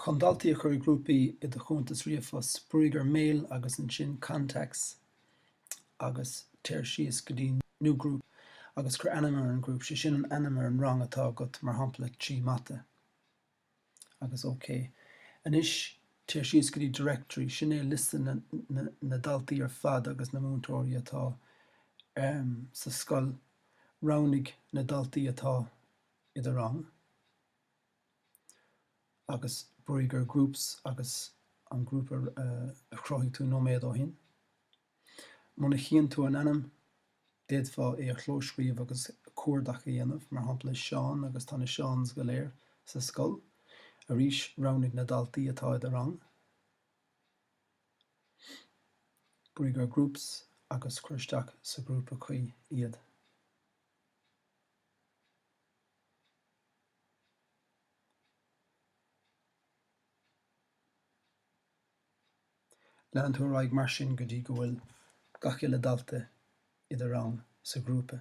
Chun daltaí a chur i grúpaí i do chuntas ríomhphost, brúigh ar Mail agus ansin Contacts agus téir síos go dtí New Group agus cuir ainm ar an group, sé sin an ainm ar an rang atá agat, mar shampla, Trí Mata. agus OK. Anois téir síos go dtí Directory, sin é liosta na ndaltaí ar fad agus na múinteoirí atá sa scoil, roghnaigh na daltaí atá i do rang. agus brúigh ar groups agus an grúpa a chruthaigh tú nóiméad ó shin. Muna chíonn tú an ainm, d'fhéadfá é a chlóscríobh agus cuardach a dhéanamh, mar shampla Seán agus tá na Seáns go léir sa scoil. Arís, roghnaigh na daltaí atá i do rang. Brúigh ar groups agus cuir isteach sa ghrúpa cuí iad. Leanann tú ar aghaidh mar sin go dtí go bhfuil gach uile dalta i do rang, sa ghrúpa.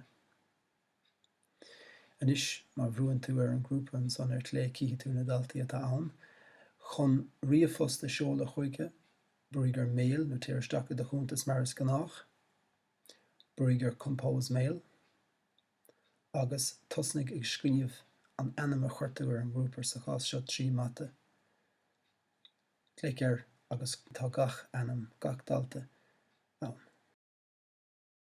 Anois má bhrúnn tú ar an grúpa ansan ar clé chífidh tú na daltaí atá ann. Chun ríomhphost a seoladh chuige, brúigh ar Mail nó téir isteach i do chuntas mar is gnách. Brúigh ar Compose Mail. agus tosnaigh ag scríobh an ainm a chuir tú ar an grúpa, sa chás seo trí mata. Clic air agus tá gach ainm gach dalta ann.